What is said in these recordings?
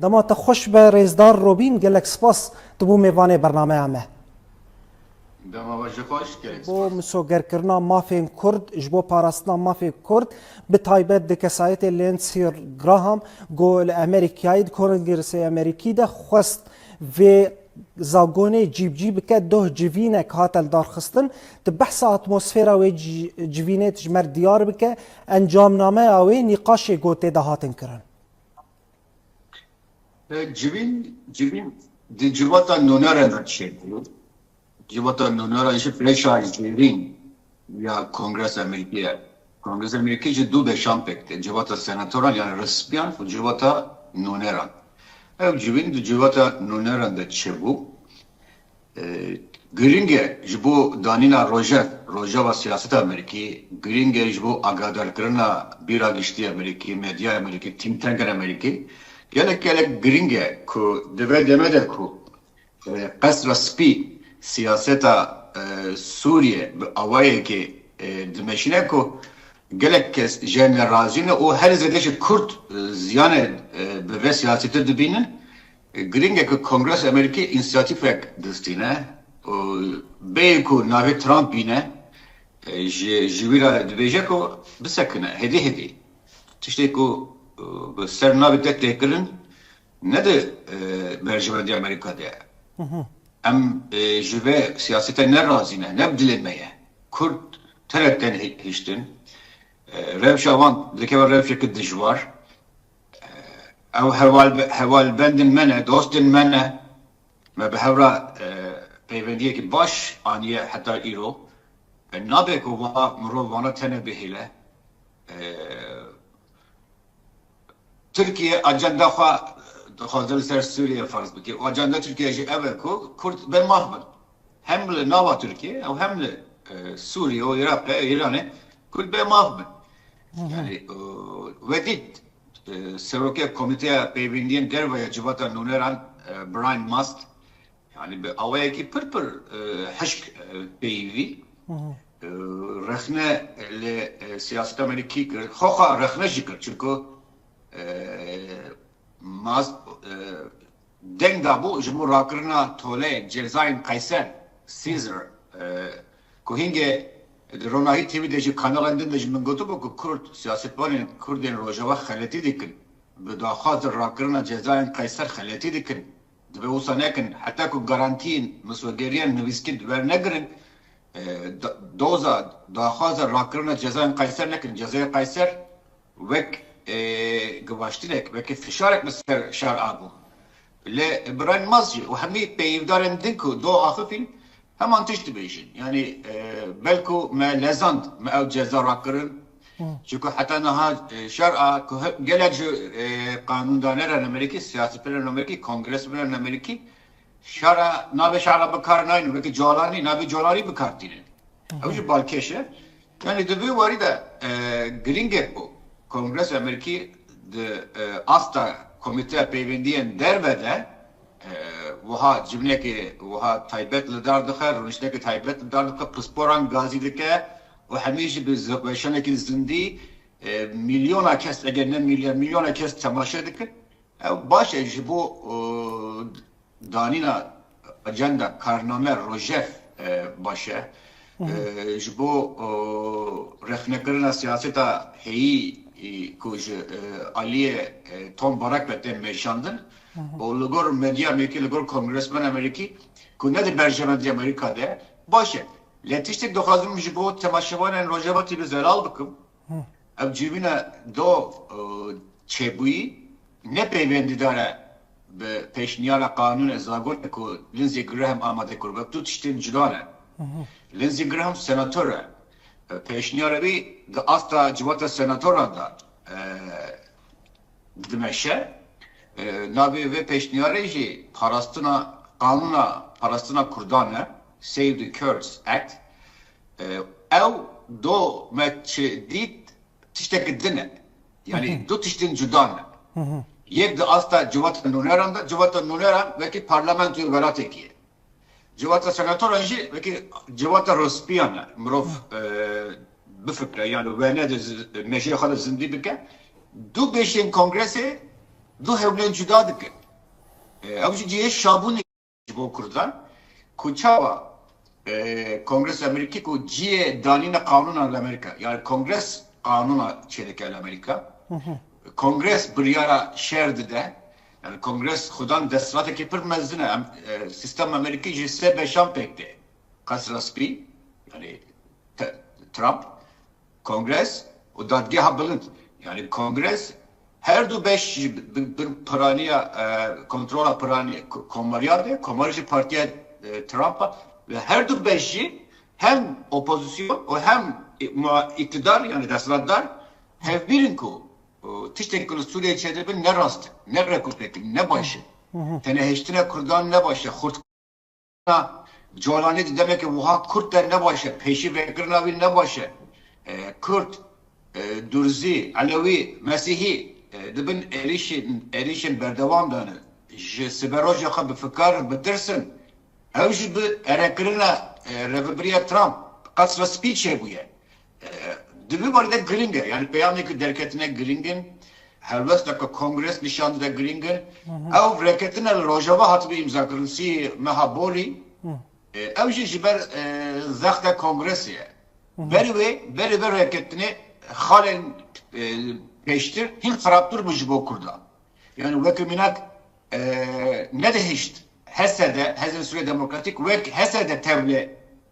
Dema te xweş be rêzdar Robîn gelek spas tu bû mêvanê bernameya me. Dema we jî xweş gelek spas. Ji bo misogerkirina mafên Kurd, ji bo parastina mafê Kurd bi taybet di kesayetê Lindsey Graham ku li Amerîkayê di Kongresa Amerîkî de xwest vê zagonê cîbicî bike doh civînek hate lidarxistin di behsa atmosfêra wê civînê dijmer diyar bike encamnameya wê nîqaşê gotê de hatin kirin. Civîn, civîn di civata nûner re nîşebû. Civata nûner re jî beşa zêrîn ya Kongresa Amerîkî ye. Kongresa Amerîkî ji du beşan pêk tê, civata senatoran yanî resmiyan û civata nûneran. Ew civîn di civata nûneran de çêbû. Girîng e ji bo danîna rojev rojava siyaseta Amerîkî, girîng e ji bo agadarkirina bîra giştî Amerîkî, medyaya Amerîkî, think tankên Amerîkî. Gelek gelek girîng e ku di vê demê de ku Qesra Spî siyaseta Sûriyê bi awayekê dimeşîne ku gelek kes jê nerazî ne û herî zêde jî Kurd ziyanê bi vê siyasîtir dibînin, Girîng e ku Kongresa Amerîkî înîsiyatîfek distîne û bêyî ku navê Trump bîne ji ji wî re dibêje ku bisekine hêdî hêdî. Tiştê ku bi ser navê te tê kirin ne di berjewendiya Amerîka de ye. Em ji vê siyasete ne razî ne, ne bi dilê me ye. Kurd terew tên hiştin. Rewşa wan dikeve rewşeke dijwar. Ew hevalbendên me ne, dostên me ne. Me bi hev re peywendiyekî baş aniye heta îro. Nabe ku mirov vana tene bihêle. Tirkiye ajenda xwe dixwaze li ser Sûriye ferz bike û ajenda Tirkiye jî ev e ku kurd bê maf bin. Hem li nava Tirkiyê ew hem li Sûriyê û Iraqê û Îranê Kurd bê maf bin. Yani wedît Serokê Komîteya Peyvîndiyên Derve ya Civata Nûneran Brian Mast yani bi awayekî pir pir hişk peyivî rexne li siyaseta Amerîkî kir, xwexa rexne jî kir çunku Mast Deng dabû ji bo rakirina toleyên cezayên Qeyser, Caesar, ku hingê di ronahî TV de jî kanalên din de ji min gotibû ku kurd siyasetvanên kurdên rojava xeletî dikin, bi daxwaz de rakirina cezayên Qeyser xeletî dikin, divê wisa nekin, heta ku garantiyên miswegeriyan nivîskî wernegirin, doza, daxwaza rakirina cezayên Qeyser nekin, cezaya Qeyser. wek givaştinek, weke fişarek bi ser şar a bû. Lê Brian Mazci û hemî peyivdarên din ku do axifîn heman tişt dibêjin. Yanî belku me lezand me ew ceza rakirin. Çunku heta niha şar a ku gelek ji qanûndaneran Amerîkî, siyasîperan Amerîkî, kongresmenan Amerîkî şar a navê şar a bikar naynin. Weke colanî navê colanî bikar tînin. Ew jî balkêş e. Yanî di vê warî de girîngek bû Kongresa Amerîkî di asta Komîteya Peywendiyên Derve de wiha civnekê wiha taybet li dar dixe, rûniştinekê taybet li dar dixe, pisporan gazî dike û hemî jî bi weşanekî zindî mîlyona kes eger ne mîlyar mîlyona kes temaşe dikin. Ew baş e ji bo Danîna ajenda, karname, rojev baş e ji bo rexnekirina siyaseta heyî ku ji aliyê Tom Barak ve tên meşandin û li gor medya Amerîkî, li gor kongresmena Amerîkî ku ne di berjevendîya Amerîka de ye baş e. Lê tiştek dixwazim ji bo temaşevanên Rojavayî bi zelal bikim. Ev civîna do çêbûyî ne peyvendîdar e bi pêşniyara qanûnê zagonê ku Lindsey Graham amade kir. Wek du tiştên cuda ne. Lindsey Graham senator e. Pêşniyara wî di asta civata senatoran de dimeşe. Navê vê pêşniyarê jî parastina qanûna parastina kurdan e, Save the Kurds Act. Ew do me çi dît tişteke din e. Yanî du tiştên cuda ne. Yek di asta civata nûneran de, civata nûneran wekî parlamentoyê welatekî ye. Civata senatoran jî wekî civata rospiyan e. Mirov bifikre yan li wene de mejiyê xwe de zindî bike. Du bêşên kongresê du hewlên cuda dikin. Ew jî cihê şabûnê ye. Ji bo kurdan ku çawa Kongres Amerîkî ku ciyê danîna qanûnan li Amerîka yani Kongres qanûna çêdike li Amerîka Kongres biryara şer dide yani Kongres xudan desthilatekî pir mezin e sîstem Amerîkî ji sê beşan pêk tê Qesra Spî yani Trump Kongres û Dadgeha Bilind, yanî Kongres her du beş jî bi piraniya kontrola piranî komariyan de, komar jî partiya Trump a ve her du beş jî hem opozîsyon û hem îktidar yanî desthilatdar hevbîr in ku tiştên ku li Sûriyeyê çêdibin ne rast in, ne rekorpêk in, ne baş in. Tenehiştina kurdan ne baş e. Na Colanê di demeke wiha kurt de ne baş e, pêşî vekirina wî ne baş e. Kurd, Durzî, Elewî, Mesîhî di bin êrîşên berdewam de ne. Ji siberoja xwe bifikar, bitirsin. Ew jî bi erekirina Rêveberiya Trump Qesra Spî çêbûye. Di vî barî de girîng e. Yanî peyamên ku derketin e girîng in. Helwesteke kongres nîşan dide girîng in. Ew reketina li rojava hatibû îmzakirin sî meha borî. Ew jî ji ber zexta kongresê ye. Berî wê berê vê reketinê xalên pêştir hîn xerabtir bû ji bo kurdan. Yanî weke mînak nedihişt HSD, Hêzên Sûriya Demokratîk wek HSD tevli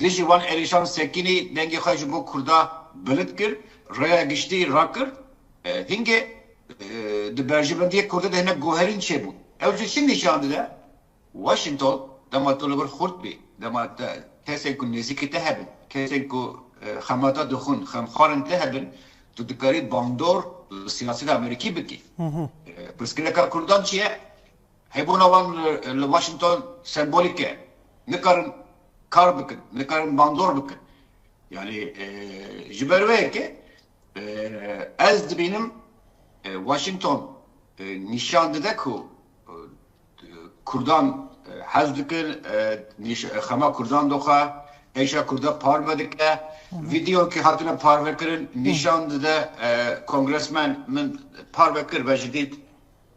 Dijî wan Elîşan Sekînî dengê xwe ji bo Kurda bilind kir, rêya giştî rakir. Hingê di berjivendiyê Kurdî de hinek guherîn çêbû. Ew jî çi nîşan dide? Washington dema tu li vir xurt bî, dema te kesên ku nêzîkî te hebin, kesên ku xema te dixwin, xemxwarên te hebin, tu dikarî bandor li siyaseta Amerîkî bikî. Pirsgirêka Kurdan çi ye? Hebûna wan li Washington sembolîk e. Nikarin kar bikin, nikarin bandor bikin. Yanî ji ber wê ye ke ez dibînim Washington nîşan dide ku kurdan hez dikin, xema kurdan doxe, êşa kurdan parve dike. Vîdeoyekî hatine parvekirin nîşan dide, kongresmen min parve kir ve jî dît.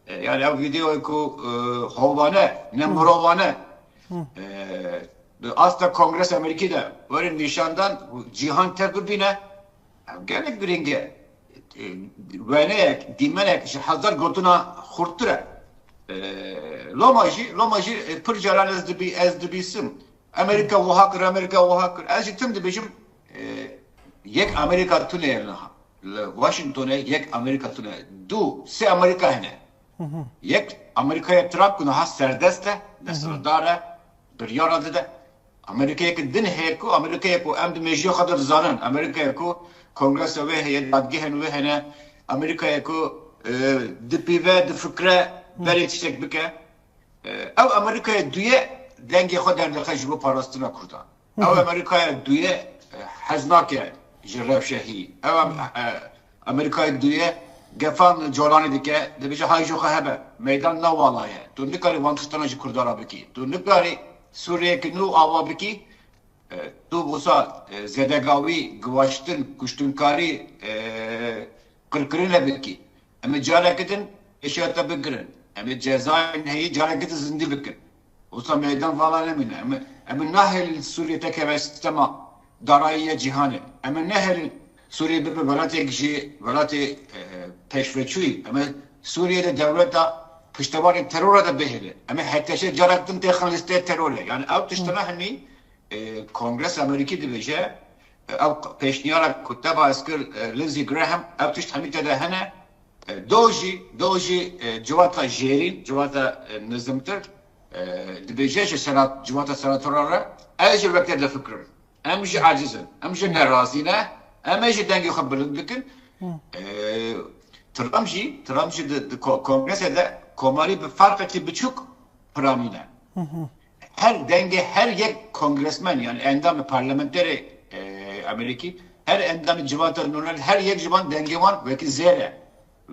Yani ev vîdeoyê ku hovane ne mirovane bi asta Kongresa Amerîkî de werin nîşandan û cîhan tev bibîne ev gelek girîng e. Weneyek, dîmenek ji hezar gotina xurttir e. Loma jî loma jî pir caran ez dibîsim Amerîka wiha kir, Amerîka wiha kir. Ez jî tim dibêjim yek Amerîka tune ye li niha. Li Washingtonê yek Amerîka tune ye. Du, sê Amerîka hene. Yek Amerîkaya Trump ku niha serdest e, desthilatdar e, biryara dide. Amerîkayeke din heye ku Amerîkaya ku em di mêjiya xwe de dizanin. Amerîkaya ku kongresa wê heye, dadgehên wê hene. Amerîkaya ku dipîve, difikire berê tiştek bike. Ew Amerîkaya dû ye dengê xwe derdixe ji bo parastina Kurdan. Ew Amerîkaya dû ye hez nake ji rewşe hî. Ew Amerîkaya dû ye gefan li colanê dike, dibêje hay ji xwe hebe. Meydan ne wala ye. Tu nikarî van tiştana ji Kurdan re bikî. Tu nikarî Sûriyeyeke nû ava bikî. Tu wisa zêdegawî, giwaştin, kuştinkarî, qirkirinê bikî. Em ê careke din hişyar te bigirin. Em ê cezayên heyî careke din zindî bikin. Wisa meydan vala nemîne. Em ê nehêlin Sûriyê te keve sîstema darayî ya cîhanê. Em ê nehêlin Sûriyê bibe welatêk ji welatê pêşveçûyî. Em ê Sûriyê de dewleta piştevanê terora de bihêle. Em ê HTŞ carek din têxin lîsteya terorê. Yanî ew tiştine hinî Kongresa Amerîkî dibêje Ew pêşniyara ku te bahs kir Lindsey Graham ev tişt hemî tede hene. Do jî do jî civata jêrîn, civata nizimtir dibêje ji civata senatora re ez ji wekte difikirim. Em jî eciz in. Em jî ne razî ne. Em ê jî dengê xwe bilind bikin. Trump jî Trump jî di kongresê de komarî bi ferqekî biçûk piranîne. Her dengê her yek kongresmen yan endamê parlamenterê Amerîkî, her endamê civata nûner her yek ji wan dengê wan wekî zêr e.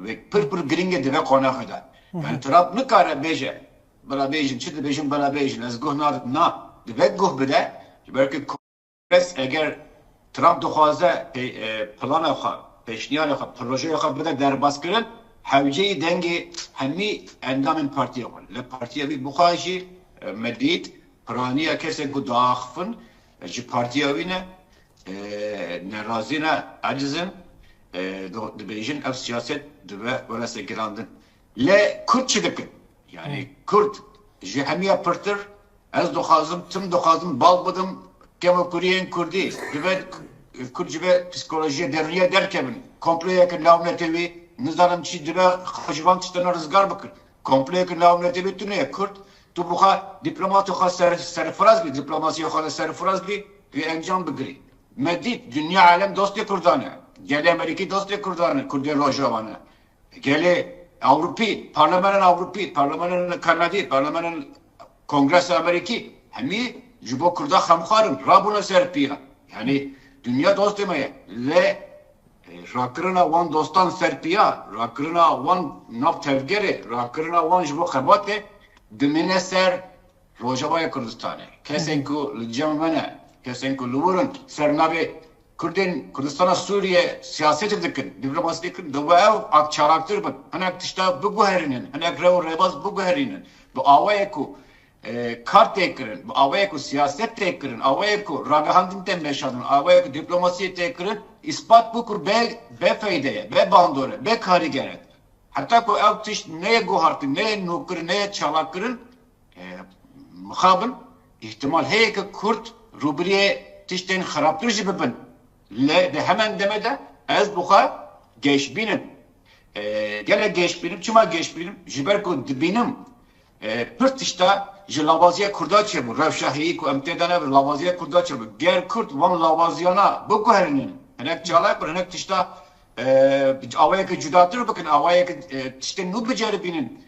Wê pir pir girîng e dibe qonaxê de. Yan Trump nikare bêje bila bêjin çi dibêjin bila bêjin ez guh nadim na dibe guh bide ji ber ku Bes eger Trump dixwaze plana xwe, pêşniyarê xwe, projeyê xwe bide derbaskirin, hewceyî dengê hemî endamên partiyê xwe in. Li partiya wî bixwe jî me dît piraniya kesên ku diaxifin ji partiya wî ne, nerazî ne, eciz in, dibêjin ev siyaset dibe werasegirandin. Lê Kurd çi dikin? Yanî Kurd ji hemiya pirtir ez dixwazim tim dixwazim bal bidim kevokûriyên Kurdî dibe Kurd ji vê psîkolojîya derûnîya derkevin. Komployeke navnetewî nizanim çi dibe xwe ji van tiştene rizgar bikin. Komployeke navnetewî tune ye Kurd. Tu bi xwe dîplomatê xwe serfiraz bî, dîplomasîya xwe de serfiraz bî wê encam bigirî. Me dît dinya alem dostê Kurdan e. Gelê Amerîkî dostê Kurdan e, Kurdên Rojava ne. Gelê Ewropî, Parlemenên Ewropî, Parlemenên Kanadî, Parlemenên Kongresa Amerîkî hemî ji bo Kurda xemxwar in, rabûne ser pîya. Yanî dinya dostê me ye. Lê rakirina wan dostan ser pîya, rakirina wan nav tevgerê, rakirina wan ji bo xebatê dimîne ser Rojavayê Kurdistanê. Kesên ku li cem me ne, kesên ku li wir in ser navê Kurdên Kurdistana Sûriyê siyasetê dikin, dîplomasî dikin, divê ew ak çalaktir bin, hinek tişta biguherînin, hinek rew û rêbaz biguherînin bi awayek ku kar tê kirin, bi awayek ku siyaset tê kirin, awayek ku ragihandin tê meşandin, awayek ku dîplomasî tê kirin, îspat bû ku bê feyde ye, bê bandor e, bê karîger e. Heta ku ew tişt neyê guhartin, neyê nûkirin, neyê çalakkirin, Li mixabil îhtimal heye ku kurd rûbiriyê tiştên xerabtir jî bibin. Lê di heman demê de ez bi xwe geş bînim. Gelek geş bînim. Çima geş bînim? Ji ber ku dibînim pir tişta ji lawaziya kurda çêbû. Rewşa heyî ku em tê de ne bi lawaziya kurda çêbû. Ger kurd van lawaziyana biguherînin, hinek çalak bin, hinek tişta bi awayeke cudatir bikin, awayeke tiştên nû biceribînin,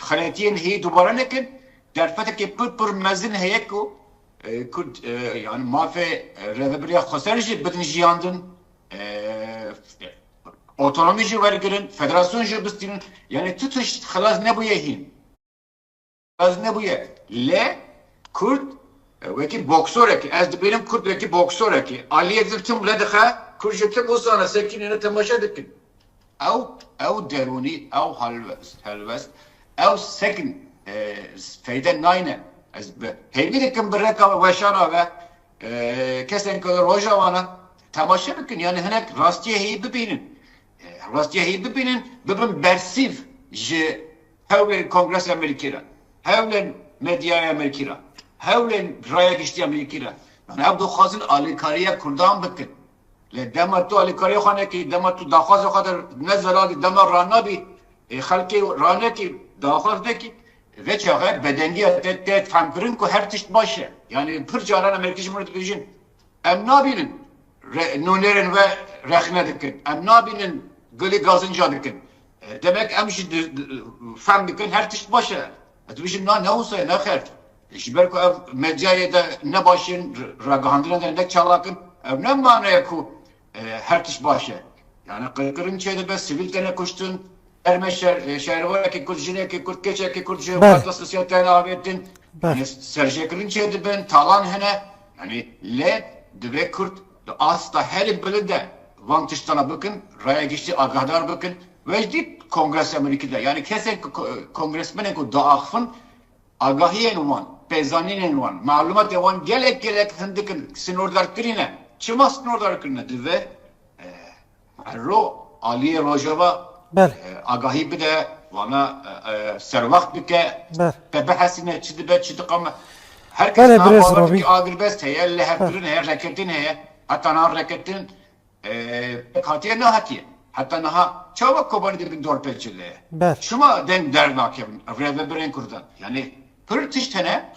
Xeletiyên heyî dubare nekin, derfetekî pir pir mezin heye ku Kurd yanî mafê Rêveberiya Xweser jî bidin jiyandin, otonomî jî wergirin, federasyon jî bistînin, yanî tu tişt xilas nebûye hîn. Xilas nebûye. Lê Kurd wekî boksorekî, ez dibînim Kurd wekî boksorekî, aliyê din tim li dixe, Kurd ji tim û sane sekînê ne temaşe dikin. Ew ew derûnî, ew helwest, ew sekin feyde nayne. Ez bi hêvî dikim bi reka weşana ve kesên ku li Rojava ne temaşe bikin yanî hinek rastiyê heyî bibînin. Rastiyê heyî bibînin bibin bersîv ji hewlên Kongreseya Amerîkî re, hewlên medyaya Amerîkî re, hewlên raya giştî ya Amerîkî re. Ew dixwazin alîkariya Kurdan bikin. Lê dema tu alîkariyê xwe nekî, dema tu daxwazê xwe der nezeradî, dema ranabî ê xelkê ranekî, daxwaz nekî, vê çaxê bedengiya te tê fehmkirin ku her tişt baş e. Yanî pir caran em herkî ji min re dibêjin, Em nabînin nûnerên we rexne dikin, em nabînin gulî gazinca dikin. Demek em jî fehm dikin her tişt baş e. Ez dibêjim na ne wisa ye, ne xêr. Ji ber ku ev medyayê de ne baş in, ragihandina de ne çalak in, ew ne mane ye ku her tişt baş e. Yanî qirkirin çêdibe, sivîl têne kuştin, termê şerwarekî kurd, jinekî kurd, keçekî kurd ji xeta sosial têne avêtin, serjêkirin çêdibin, talan hene. Yanî lê divê kurd di asta herî bilind de van tiştan re bikin, raya giştî agahdar bikin. Wejdî kongres ya Mûnîkê de, yanî kesên ku kongresmenên ku diaxivin Agahiyên wan, pêzanînên wan, malûmatên wan gelek gelek hindik in, sînordarkirî ne. Çima sînordarkirî ne? Divê herro aliyê Rojava agahî bide, wana serwext bike, te bihesîne çi dibe çi diqame. Her kes niha bawer dike agirbest heye, lihevkirin heye, reketin heye, heta niha reketin Pik hatiye nehatiye. Heta niha çawa Kobanî dibin dorpêçê de? Şima deng dernakevin rêvebirên kurdan? Yanî pir tişt hene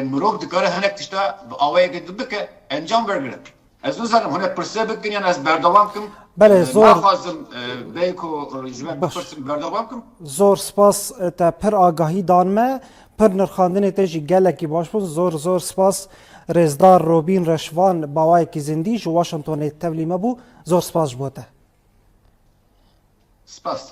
mirov dikare hinek tişta bi awayeke din bike encam wergire. Ez nizanim hûn ê pirse bikin yan ez berdewam bikim. Naxwazim bê ku ji me bipirsin berdewam bikim. Zor spas te pir agahî dan me. Pir nirxandinê te jî gelekî baş bûn. Zor zor spas Rêzdar Robîn Reşvan bawayekî zindî ji Washingtonê tevlî me bû. Zor spas ji bo te. Spas.